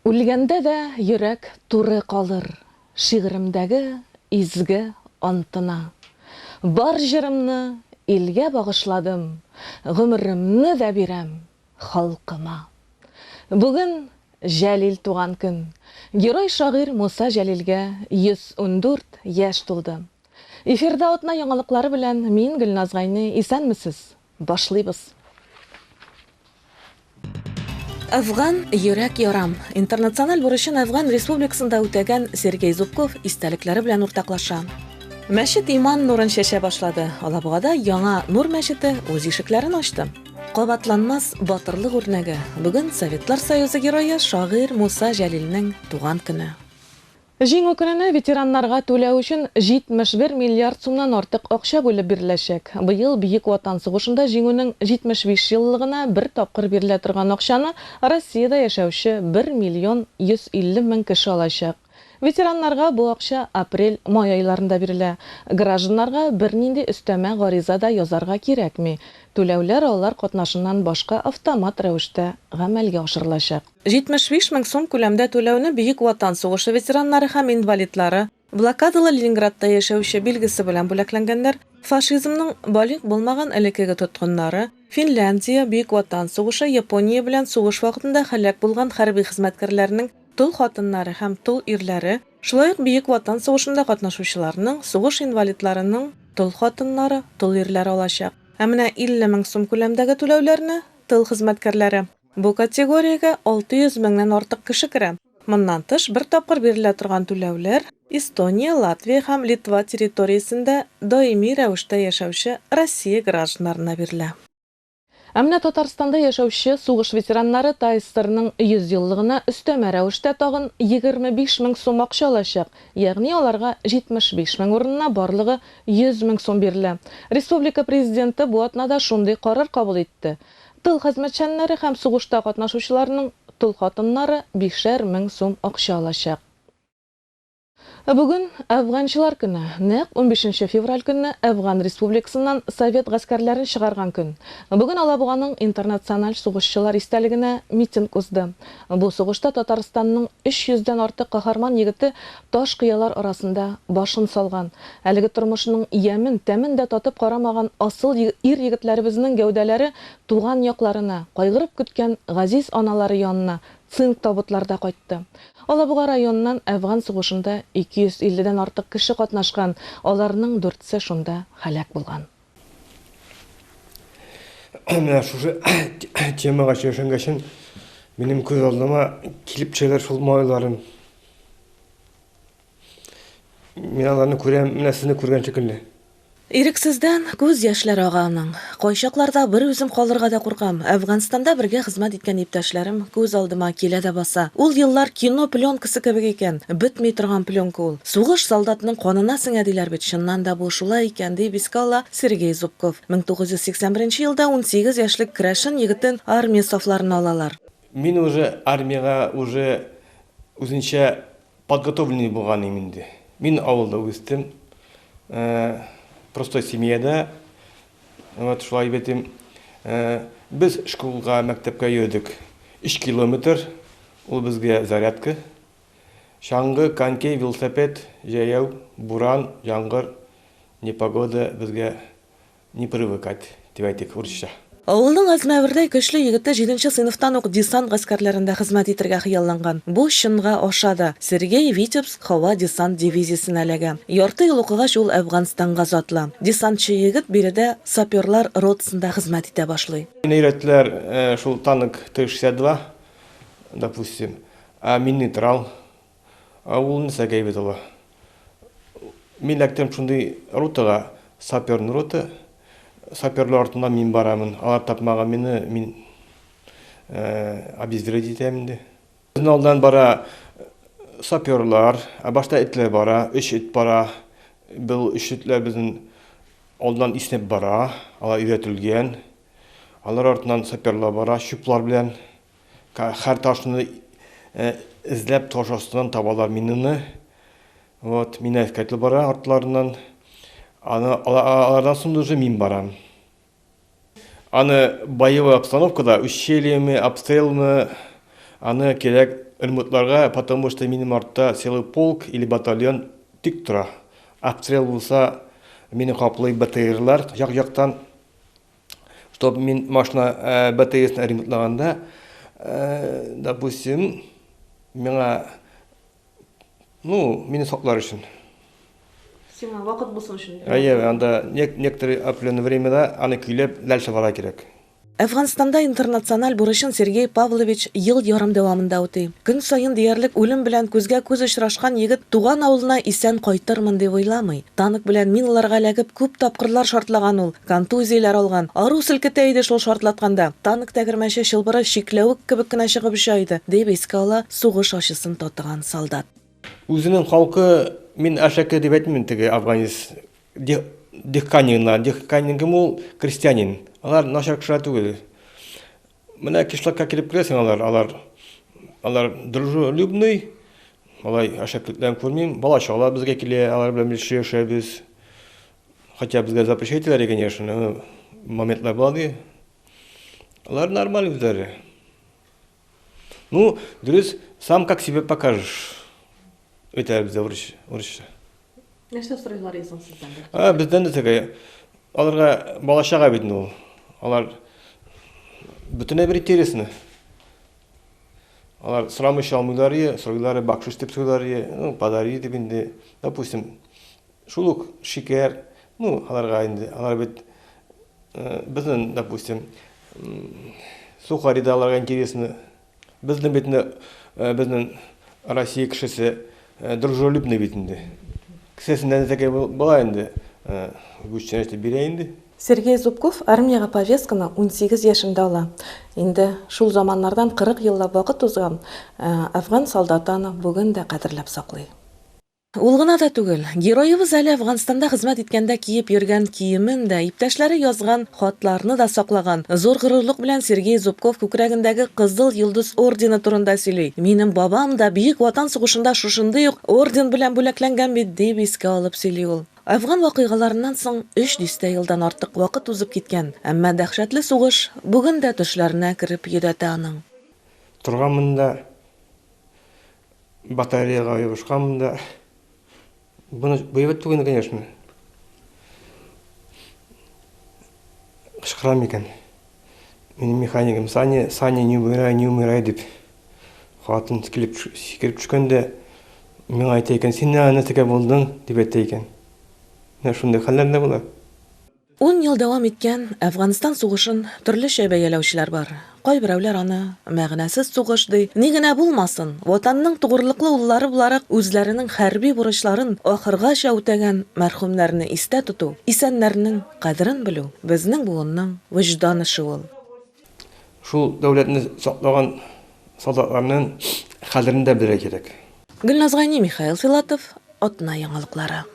Үлгәндә дә йөрәк туры калыр Шигыремдәге изге антына. Бар җырымны илгә багышладым, Гомеремне дә бирәм халкыма. Бүген, Җәлил туган көн. Герой-шагыйрь Муса Җәлилгә 114 яшь тулды. Эфирда атна яңалыклары белән мин, Гөлназ Гайни. Исәнмесез! Башлыйбыз! Әфган йөрәк ярам! Интернациональ бурычын Әфган Республикасында үтәгән Сергей Зубков истәлекләре белән уртаклаша. Мәчет иман нурын чәчә башлады. Алабугада яңа Нур мәчете үз ишекләрен ачты. Кабатланмас батырлык үрнәге. Бүген Советлар Союзы Герое, шагыйрь Муса Җәлилнең туган көне. Җиңү көненә ветераннарга түләү өчен 71 миллиард сумнан артык акча бүлеп биреләчәк. Быел Бөек Ватан сугышында Җиңүнең 75 еллыгына бер тапкыр бирелә торган акчаны Россиядә яшәүче 1 миллион 150 мең кеше алачак. Ветераннарга бу акча апрель-май айларында бирелә. Гражданнарга бернинди өстәмә гариза да язарга кирәкми, түләүләр алар катнашыннан башка автомат рәвештә гамәлгә ашырылачак. 75 мең сум күләмдә түләүне Бөек Ватан сугышы ветераннары һәм инвалидлары, блокадалы Ленинградта яшәүче билгесе белән бүләкләнгәннәр, фашизмның балигъ булмаган элеккеге тоткыннары, Финляндия, Бөек Ватан сугышы, Япония белән сугыш вакытында һәлак булган хәрби хезмәткәрләрнең тол хатыннары һәм тол ирләре, шулай ук Бөек Ватан сугышында катнашучыларның, сугыш инвалидларының тол хатыннары, тол ирләре алачак. Ә менә 50 мең сум күләмдәге түләүләрне, тыл хезмәткәрләре. Бу категориягә 600 меңнән артык кеше керә. Моннан тыш, бер тапкыр бирелә торган түләүләр Эстония, Латвия һәм Литва территориясендә даими рәвештә яшәүче Россия гражданнарына бирелә. Ә менә Татарстанда яшәүче сугыш ветераннары ТАССРның 100 еллыгына өстәмә рәвештә тагын 25 мең сум акча алачак, ягъни аларга 75 мең урынына барлыгы 100 мең сум бирелә. Республика Президенты бу атнада шундый карар кабул итте. Тыл хезмәтчәннәре һәм сугышта катнашучыларның тол хатыннары бишәр мең сум акча алачак. Бүген, Әфганчылар көне. Нәкъ унбишенче февраль көнне Әфган Республикасыннан совет гаскәрләрен чыгарган көн. Бүген Алабуганың Интернациональ сугышчылар истәлегенә митинг узды. Бу сугышта Татарстанның өч йөздән артык каһарман егете Таш кыялар арасында башын салган, әлеге тормышның ямен, тәмен дә татып карамаган асыл ир-егетләребезнең гәүдәләре туган якларына, кайгырып көткән газиз аналары янына цинк табутларда кайтты. Алабуга районыннан әфган сугышында 250 дән артык кеше катнашкан, аларның дүртсе шунда һәлак булган. Менә шушы темага чөшенгәчен минем күз алдыма килеп төшәләр шул малайларым. Мин аларны күрәм, менә сезне күргән шикелле. Ирексездән күз яшьләр ага аның. Кайчакларда бер үзем калырга да куркам. Әфганстанда бергә хезмәт иткән иптәшләрем күз алдыма килә дә баса. Ул еллар кино пленкасы кебек икән, бетми торган пленка ул. Сугыш солдатның канына сеңә диләр бит, чыннан да бу шулай икән, дип искә ала Сергей Зубков. 1981 елда унсигез яшьлек керәшен егетен армия сафларына алалар. Мин уже армиягә уже үзенчә подготовленный булган идем инде. Мин авылда үстем, простой семьяда, вот шулай дип әйтим. Без шкулга, мәктәпкә йөрдек өч километр, ул безгә зарядка. Чаңгы, конький, велосипед, җәяү, буран, яңгыр, непогода безгә не привыкать, дип әйтик урысча. Авылның әзмәвердәй көчле егете җиденче сыйныфтан ук десант гаскәрләрендә хезмәт итергә хыялланган. Бу чынга аша да. Сергей Витебск һава десант дивизиясенә эләгә. Ярты ел укыгач ул Әфганстанга затлы. Десантчы егет биредә саперлар ротасында хезмәт итә башлый. Мине өйрәттеләр шул танк Т-62, допустим. Ә мин нейтрал. Ә ул нәрсә гайбәт ала? Мин эләктем шундый ротага, саперный рота. Саперлар артыннан мин барамын. Алар тапмаган мине, мин обезвредить итәм инде. Безнең алдан бара саперлар, ә башта этләр бара, өч эт бара. Бу өч этләр безнең алдан иснәп бара, алар өйрәтелгән. Алар артыннан саперлар бара, чүплар белән. Хәр ташны эзләп таш астыннан табалар минаны. Вот, мин әскәтле бара артларыннан. Аны алардан соң уже мин барам. Аны боевой обстановкада, ущельеме, обстрелмы, аны кирәк ремонтларга, потому что минем артта целый полк или батальон тик тора. Обстрел булса, мине каплый БТРлар як-яктан. Чтоб мин машина БТСны ремонтлаганда, допустим, миңа, ну, мине саклар өчен. Сиңа вакыт булсын өчен. Әйе, анда некоторый определенное времяда аны көйләп ләл чыгарга кирәк. Әфганстанда интернациональ бурычын Сергей Павлович ел ярым дәвамында үти. Көн саен диярлек үлем белән күзгә-күз очрашкан егет туган авылына исән кайтырмын дип уйламый. Танк белән миналарга эләгеп күп тапкырлар шартлаган ул. Контузияләр алган. Ару селкетә иде шул шартлатканда. Танк тәгәрмәче чылбыры чикләвек кебек кенә чыгып оча иде, дип искә ала сугыш ачысын татыган солдат. Үзенең халкы, мин Ашаке дип әйтмим, теге афганец Дехканиннар, Дехканин кем ул? Крестьянин. Алар начар кешеләр түгел. Менә кишлакка килеп керәсең, алар, алар, алар дружелюбный, алай ашакетләрен күрмим. Бала-чагалар безгә килә, алар белән бергә яшәбез. Хотя безгә запрещать итәләр, конечно, моментлар була ди. Алар нормаль үзләре. Ну, дөрес, сам как себе покажешь. Өйтә бездә урысча. Нәрсә сорыйлар исән сездән? А, бездән дә тәгә. Аларга балачага бит ул. Алар бөтенләй бер интересны. Алар срамыш алмыйлар, сорыйлар, бакшыш дип сорыйлар, ну, подари дип инде. Допустим, Шул ук шикәр, ну, аларга инде, алар бит безнен, допустим, сухари да аларга интересны. Безнен бит инде, безнен Россия кешесе дружелюбный бит инде. Кесәсендә нәзәкәй була инде, гүчтән әйтеп бирә инде. Сергей Зубков армиягә повестканы унсигез яшендә ала. Инде шул заманнардан кырык еллап вакыт узган, ә афган солдаты аны бүген дә кадерләп саклый. Ул гына да түгел, героебыз әле Әфганстанда хезмәт иткәндә киеп йөргән киемен дә, иптәшләре язган хатларны да саклаган. Зур горурлык белән Сергей Зубков күкрәгендәге Кызыл Йолдыз ордены турында сөйли. Минем бабам да Бөек Ватан сугышында шушындый ук орден белән бүләкләнгән бит, дип искә алып сөйли ул. Әфган вакыйгаларыннан соң өч дистә елдан артык вакыт узып киткән, әмма дәһшәтле сугыш бүген дә төшләренә кереп йөдәтә аның. Торганмын да Батареяга ябышканмын да. Буны боевать түгел, конечно. Кычкырам икән. Минем механикам Саня, Саня не умирай, не умирай дип. Хатын килеп сикереп төшкәндә миңа әйтә икән, син нәнә текә булдың дип әйтә икән. Менә шундый хәлләр дә була. Ун ел дәвам иткән Әфганстан сугышын төрлечә бәяләүчеләр бар. Кайберәүләр аны, мәгънәсез сугыш, ди. Ни генә булмасын, Ватанның тугрылыклы уллары буларак үзләренең хәрби бурычларын ахыргача үтәгән мәрхүмнәрне истә тоту, исәннәрнең кадерен белү, безнең буынның вөҗдан эше ул. Шул дәүләтне саклаган солдатларның кадерен дә белергә кирәк. Гөлназ Гайни, Михаил Филатов, Атна яңалыклары.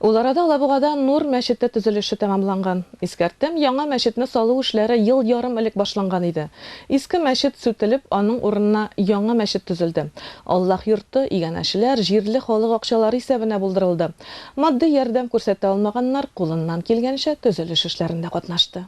Ул арада Алабугада Нур мәчете төзелеше тәмамланган. Искәртәм, яңа мәчетне салу эшләре ел ярым элек башланган иде. Иске мәчет сүтелеп, аның урынына яңа мәчет төзелде. Аллаһ йорты, иганәчеләр, җирле халык акчалары исәбенә булдырылды. Матди ярдәм күрсәтә алмаганнар кулыннан килгәнчә төзелеш эшләрендә катнашты.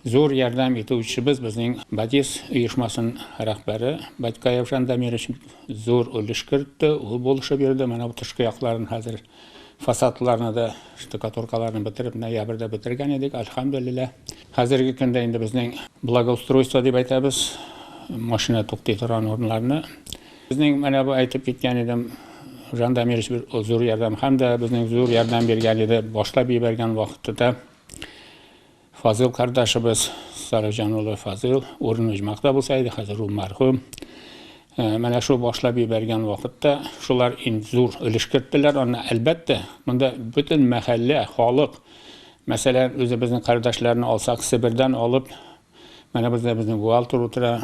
Зур ярдәм итүчебез безнең Бадис оешмасын рәхбәре Батькаев Жан Дамирович зур өлеш кертте, ул булышып йөрде. Менә бу тышкы якларын хәзер фасадларны да, штукатуркаларны бетереп, ноябрьдә бетергән идек, альхамдуллилла. Хәзерге көндә инде безнең благоустройство дип әйтәбез, машина туктый торган урыннарны. Безнең менә бу әйтеп киткән идем, Жан Дамирович бер зур ярдәм һәм дә безнең зур ярдәм биргән иде, башлап җибәргән вакытта Фазыйл кардәшебез, Сарыҗан улы Фазыйл, урыны оҗмакта булса иде, хәзер ул мәрхүм. Менә шул башлап ебәргән вакытта шулар ин зур өлеш керттеләр. Аны, әлбәттә, монда бөтен мәхәллә, халык, мәсәлән, үзебезнең кардәшләрне алсак, Себердән алып, менә бездә безнең бухгалтер утыра,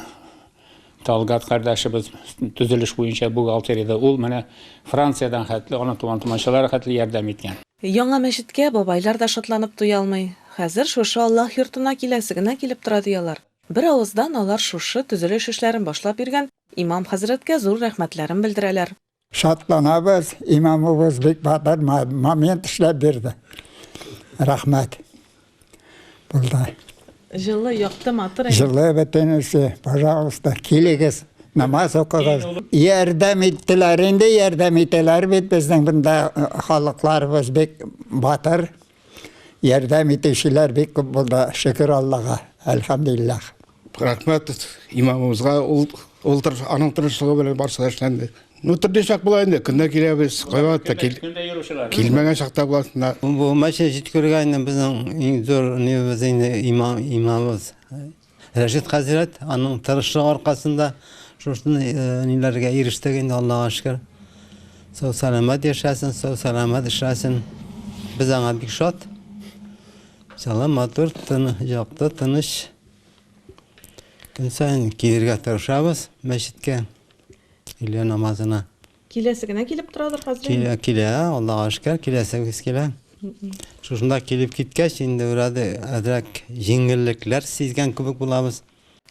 Талгат кардәшебез төзелеш буенча бухгалтериядә, ул менә Франциядән хәтле, аның туган-тумачалары хәтле ярдәм иткән. Яңа мәчеткә бабайлар да шатланып туя алмый. Хәзер шушы Аллаһ йортына киләсе генә килеп тора, ди алар. Бер авыздан алар шушы төзелеш эшләрен башлап биргән имам хәзрәткә зур рәхмәтләрен белдерәләр. Шатланабыз, имамыбыз бик батыр момент эшләп бирде. Рәхмәт. Булды. Җылы, якты, матур. Җылы бөтенесе, пожалуйста, килегез, намаз укыгыз. Ярдәм иттеләр, инде ярдәм итәләр бит безнең монда халыкларыбыз бик батыр. Ярдәм итүчеләр бик күп булды, шөкер Аллага, әлхәмдулиллах. Рәхмәт имамыбызга, ул ул тырыш, аның тырышлыгы белән барысы да эшләнде. Ну, төрле чак була инде, көнлә киләбез, кайвакыт та кил, килмәгән чакта буласында. Бу мәчет җиткергән безнең иң зур нибез инде имам, имамыбыз. Рәшит хәзрәт, аның тырышлыгы аркасында шушындый ниләргә ирештек инде, Аллага шөкер. Сау-сәламәт яшәсен, сау-сәламәт эшләсен. Без аңа бик шат. Сала матур, тын, якты, тыныч. Көн саен килергә тырышабыз мәчеткә, өйлә намазына. Киләсе генә килеп торадыр хәзер инде. Килә, килә, Аллага шөкер, киләсе үз килә. Шушында килеп киткәч, инде үрәде әзрәк җиңеллекләр сизгән кебек булабыз.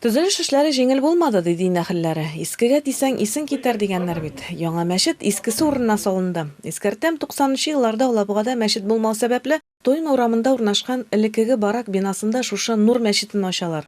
Төзелеш эшләре җиңел булмады, ди дин әһелләре. Искегә тисәң, исең китәр, дигәннәр бит. Яңа мәчет искесе урынына салынды. Искәртәм, туксанынчы елларда Алабугада мәчет булмау сәбәпле, Тойма урамында урнашкан элеккеге барак бинасында шушы Нур мәчетен ачалар.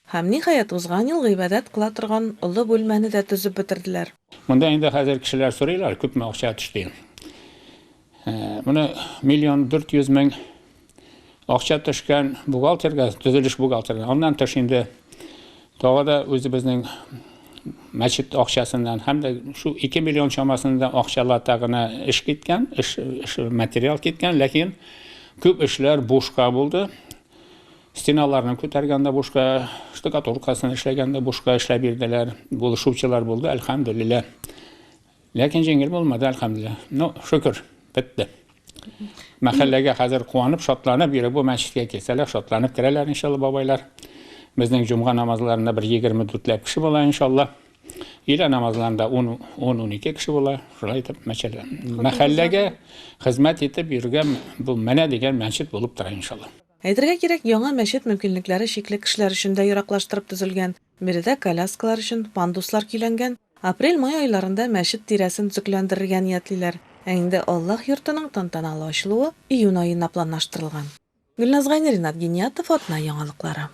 Һәм, ниһаять, узган ел гыйбадәт кыла торган олы бүлмәне дә төзеп бетерделәр. Монда инде хәзер кешеләр сорыйлар, күпме акча төште. Моны миллион дүрт йөз мең акча төшкән бухгалтерга, төзелеш бухгалтерына. Аннан тыш инде тагы да үзебезнең мәчет акчасыннан һәм дә шул 2 миллион чамасында акчалата гына эш киткән, эш, эш материал киткән, ләкин күп эшләр бушка булды. Стеналарны күтәргән дә бушка, штукатуркасын эшләгән дә бушка эшләп бирделәр. Булышучылар булды, әлхәмдүлиллә. Ләкин җиңел булмады, әлхәмдүлиллә. Ну, шөкер, бетте. Мәхәлләгә хәзер куанып, шатланып йөри. Бу мәчеткә килсәләр, шатланып керәләр, иншалла, бабайлар. Безнең җомга намазларында бер 24 ләп кеше була, иншалла. Илә намазларында 10-12 кеше була. Шулай итеп, мәчәллә. Мәхәлләгә хезмәт итеп йөргән бу менә дигән мәчет булып тора, иншалла. Әйтергә кирәк, яңа мәчет мөмкинлекләре чикле кешеләр өчен дә ераклаштырып төзелгән, биредә коляскалар өчен пандуслар көйләнгән. Апрель-май айларында мәчет тирәсен төзекләндерергә ниятлиләр, ә инде Аллаһ йортының тантаналы ачылуы июнь аена планлаштырылган. Гөлназ Гайнерина, Ринат Гиниятов, Атна яңалыклары.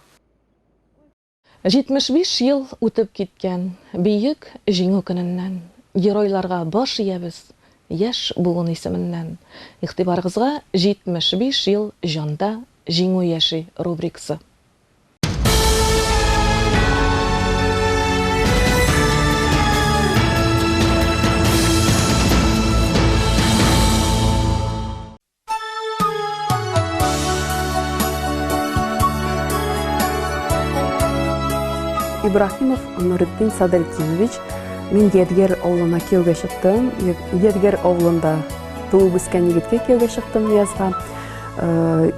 75 ел үтеп киткән Бөек Җиңү көненнән, геройларга баш иябез яшь буын исеменнән. Игътибарыгызга 75 ел җанда Җиңү яши рубрикасы. Ибраһимов Нуретдин Садретдинович, мин Ядгәр авылына кияүгә чыктым. Ядгәр авылында туып үскән егеткә кияүгә чыктым Язга. Э,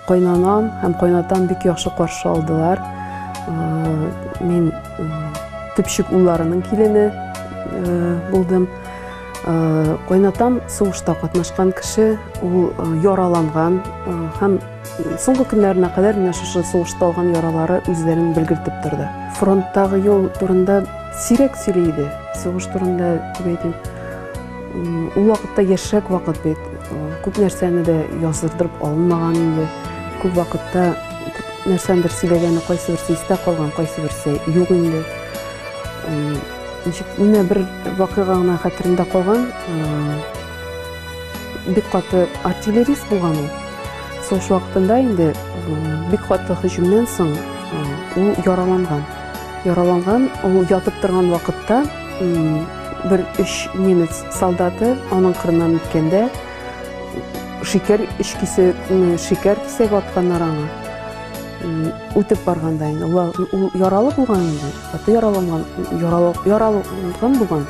кайнанам һәм кайнатам бик яхшы каршы алдылар. Э, мин э, төпчек улларының килене булдым. Э, кайнатам сугышта катнашкан кеше ул э, яраланган э, һәм соңгы көннәренә кадәр менә шушы сугышта алган яралары үзләрен белгертеп торды фронттагы юл турында сирәк сөйли иде сугыш турында дип әйтим ул вакытта яшьрәк вакыт бит күп нәрсәне дә яздырдырып алынмаган инде күп вакытта нәрсәндер сөйләгәне кайсы берсе истә калган кайсы берсе юк инде Ничек менә бер вакыйга гына хәтерендә калган. Бик каты артиллерист булган ул. Сугыш вакытында инде бик каты һөҗүмнән соң ул яраланган. Яраланган, ул ятып торган вакытта бер өч немец солдаты аның кырыннан үткәндә шикәр өч кисә шикәр кисәк атканнар аңа. Үтеп барганда инде ул яралы булган инде. Каты яраланган, яраланган булган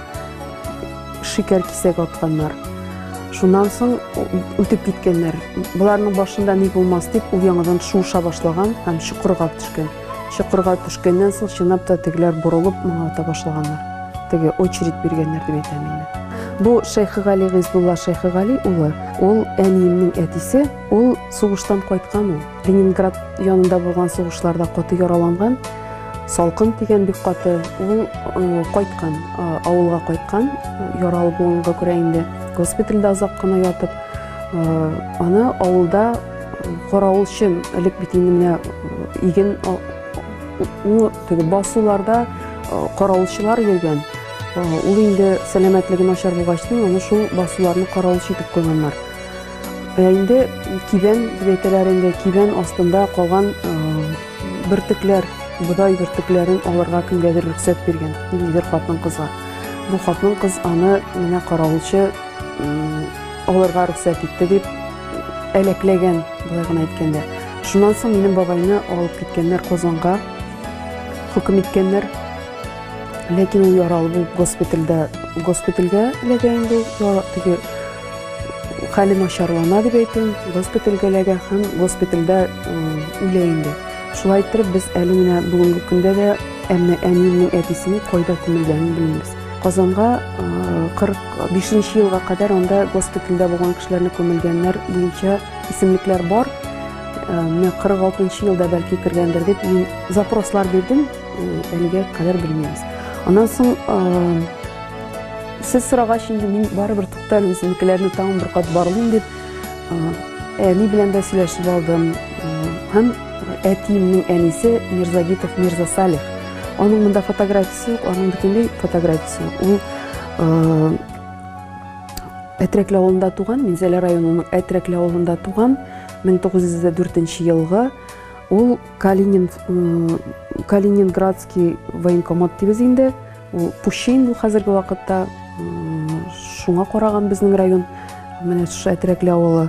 шикәр кисәк атканнар. Шуннан соң үтеп киткәннәр. Боларның башында ни булмас дип, ул яңадан шуыша башлаган һәм чокырга төшкән. Чокырга төшкәннән соң чынлап та тегеләр борылып моңа ата башлаганнар. Теге очередь биргәннәр дип әйтәм инде. Бу Шәйхегали Гыйзбулла Шәйхегали улы, ул әниемнең әтисе, ул сугыштан кайткан ул. Ленинград янында булган сугышларда каты яраланган, салкын тигән бик каты, ул кайткан, авылга кайткан, яралы булганга күрә инде госпитальдә озак кына ятып, аны авылда каравылчы элек бит инде менә иген теге басуларда каравылчылар йөргән ул инде сәламәтлеге начар булгач аны шул басуларны каравылчы итеп куйганнар Ә инде кибән дип әйтәләр инде, кибән астында калган бөртекләр, бодай бөртекләрен алырга кемгәдер рөхсәт биргән, ниндидер хатын кызга. Бу хатын кыз аны менә каравылчы алырга рөхсәт итте дип әләкләгән, былай гына әйткәндә. Шуннан соң минем бабайны алып киткәннәр Казанга, хөкем иткәннәр. Ләкин ул яралы булып госпитальдә, госпитальгә эләгә инде ул, теге Хәле начарлана дип әйтүем, госпитальгә эләгә һәм госпитальдә үлә инде. Шулай иттереп без әле менә бүгенге көндә дә әмма әниемнең әтисенең кайда күмелгәнен белмибез. Казанга 45 елга кадәр анда госпитальдә булган кешеләрне күмелгәннәр буенча исемлекләр бар. Менә 46 елда бәлки кергәндер дип мин запрослар бирдем, әлегә кадәр белмибез. Аннан соң Сез сорагач, инде мин барыбер туктал үзенекеләрне тагын бер кат барлыйм дип, әни белән дә сөйләшеп алдым. Һәм әтиемнең әнисе Мирзагитов Мирза Салих. Аның монда фотографиясе юк, аның бөтенләй фотографиясе юк. Ул Әтрәкле авылында туган, Минзәлә районының Әтрәкле авылында туган, 1904 елгы. Ул Калинин Калининградский военкомат дибез инде. Ул пущей инде хәзерге вакытта. Шуңа караган безнең район, менә шушы Әтрәкле авылы.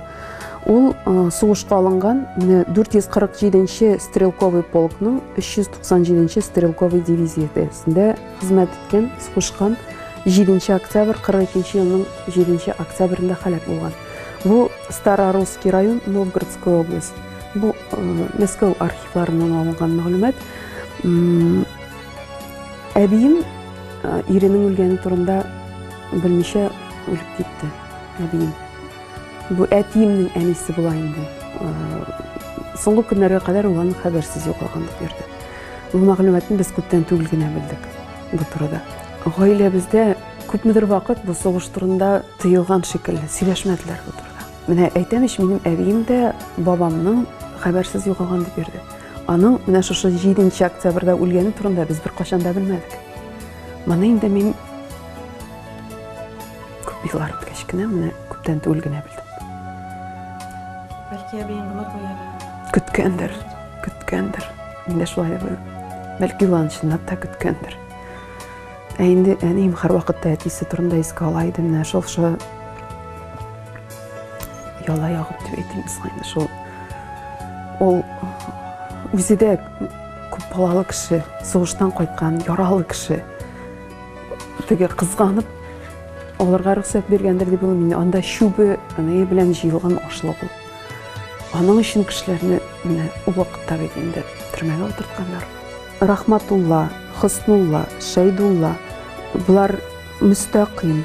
Ул сугышка алынган, менә 447-нче стрелковый полкның 397-нче стрелковый дивизиясендә хезмәт иткән, сугышкан 7 октябрь 42 елның 7 октябрендә халәк булган. Бу Старорусский район, Новгородская область. Бу Мәскәү архивларыннан алынган мәгълүмат. Әбием иренең үлгәне турында белмичә үлеп китте. Әбием. Бу әтиемнең әнисе була инде. Соңгы көннәргә кадәр ул аның хәбәрсез югалган булып йөрде. Бу мәгълүматны без күптән түгел генә белдек бу турыда. Гаиләбездә күпмедер вакыт бу сугыш турында тыелган шикелле, сөйләшмәделәр бу турыда. Менә әйтәм ич, минем әбием дә бабамның хәбәрсез югалган дип йөрде. Аның менә шушы 7 октябрьдә үлгәне турында без беркайчан да белмәдек. Моны инде мин күп еллар үткәч кенә, менә күптән түгел генә белдем. Бәлки әбиең гына куярга. Көткәндер, көткәндер. Инде шулай да бәлки ул чынлап та көткәндер. Ә инде әнием һәрвакытта әтисе турында искә ала иде, менә шул Яла ягып дип әйтимез инде шул. Ул үзе дә күп балалы кеше, сугыштан кайткан, яралы кеше. Теге кызганып аларга рөхсәт биргәндер дип уйлыйм. Анда чүбе, аны белән җыелган ашлык ул. Аның өчен кешеләрне менә ул вакытта бит инде төрмәгә утыртканнар. Рахматулла, Хөснулла, Шәйдулла, болар Мөстәкыйм.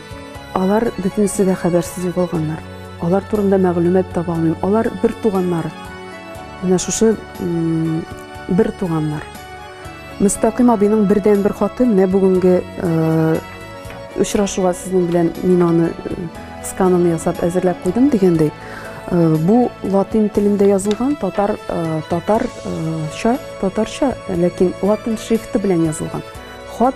Алар бөтенесе дә хәбәрсез югалганнар. Алар турында мәгълүмат таба алмыйм. Алар бер туганнар. Менә шушы бер туганнар. Мөстәкыйм абыйның бердән бер хаты менә бүгенге очрашуга сезнең белән мин аны сканын ясап әзерләп куйдым дигәндәй. Э, бу латин телендә язылган татар э, татарча э, татарча ләкин латин шрифты белән язылган хат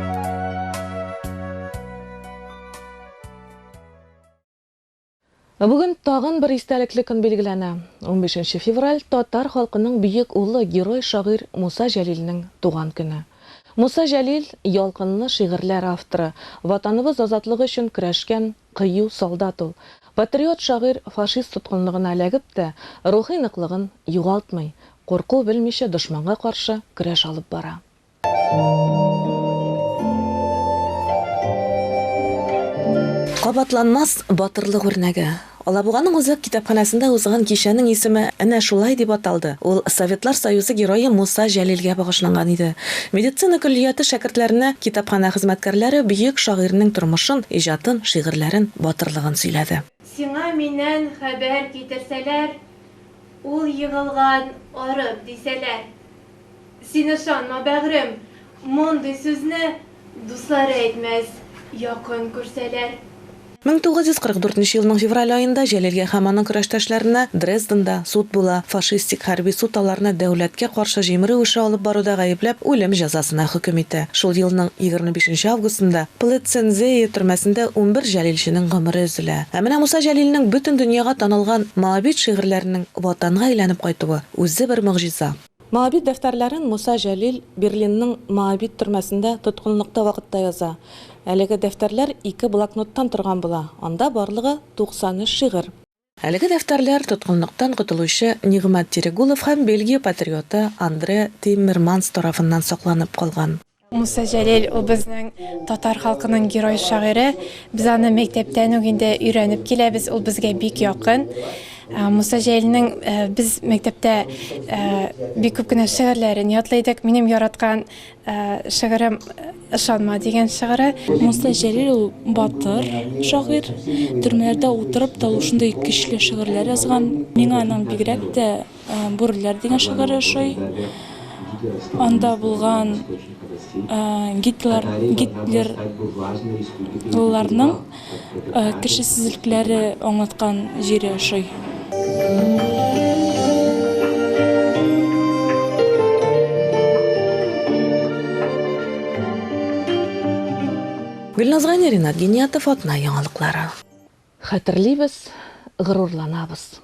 Бүген тагын бер истәлекле көн билгеләнә. Унбишенче февраль, татар халкының бөек улы, герой-шагыйрь Муса Җәлилнең туган көне. Муса Җәлил, ялкынлы шигырьләр авторы, Ватаныбыз азатлыгы өчен көрәшкән кыю солдат ул. Патриот шагыйрь фашист тоткынлыгына эләгеп тә, рухи ныклыгын югалтмый, курку белмичә дошманга каршы көрәш алып бара. Кабатланмас батырлык үрнәге. Алабуганың үзәк китапханәсендә узган кичәнең исеме әнә шулай дип аталды. Ул Советлар Союзы Герое Муса Җәлилгә багышланган иде. Медицина көллияте шәкертләренә китапханә хезмәткәрләре бөек шагыйрьнең тормышын, иҗатын, шигырьләрен, батырлыгын сөйләде. Сиңа миннән хәбәр китерсәләр, Ул егылган арык, дисәләр, Син ышанма, бәгърем, мондый сүзне дуслар әйтмәс, якын күрсәләр. Мең тугыз йөз кырык дүртенче елның февраль аенда Җәлилгә һәм аның көрәштәшләренә Дрезденда суд була, фашистик хәрби суд аларны дәүләткә каршы җимерү эше алып баруда гаепләп, үлем җәзасына хөкем итә. Шул елның егерме бишенче августында Плыцензее төрмәсендә унбер җәлилченең гомере өзелә. Ә менә Муса Җәлилнең бөтен дөньяга танылган Моабит шигырьләренең Ватанга әйләнеп кайтуы, үзе бер могҗиза. Моабит дәфтәрләрен Муса Җәлил Берлинның Моабит төрмәсендә тоткынлыкта вакытта яза. Әлеге дәфтәрләр ике блокноттан торган була, анда барлыгы 93 шигырь. Әлеге дәфтәрләр тоткынлыктан котылучы Нигъмәт Тирегулов һәм Бельгия патриоты Андре Тиммерманс тарафыннан сакланып калган. Муса Җәлил ул безнең татар халкының герой шагыйре. Без аны мәктәптән үк инде өйрәнеп киләбез, ул безгә бик якын. Муса Җәлилнең без мәктәптә бик күп кенә шигырьләрен ятлый идек. Минем яраткан шигырем Ышанма дигән шигыре. Муса Җәлил ул батыр шагыйрь. Төрмәләрдә утырып та ул шундый көчле шигырьләр язган. Миңа аның бигрәк тә Бүреләр дигән шигырь ошый. Анда булган Гитлер Гитлерларның кешесезлекләре аңлаткан җире ошый. Гөлназ Гани, Ринат Гениятов, Атна яңалыклары. Хәтерлибез, горурланабыз.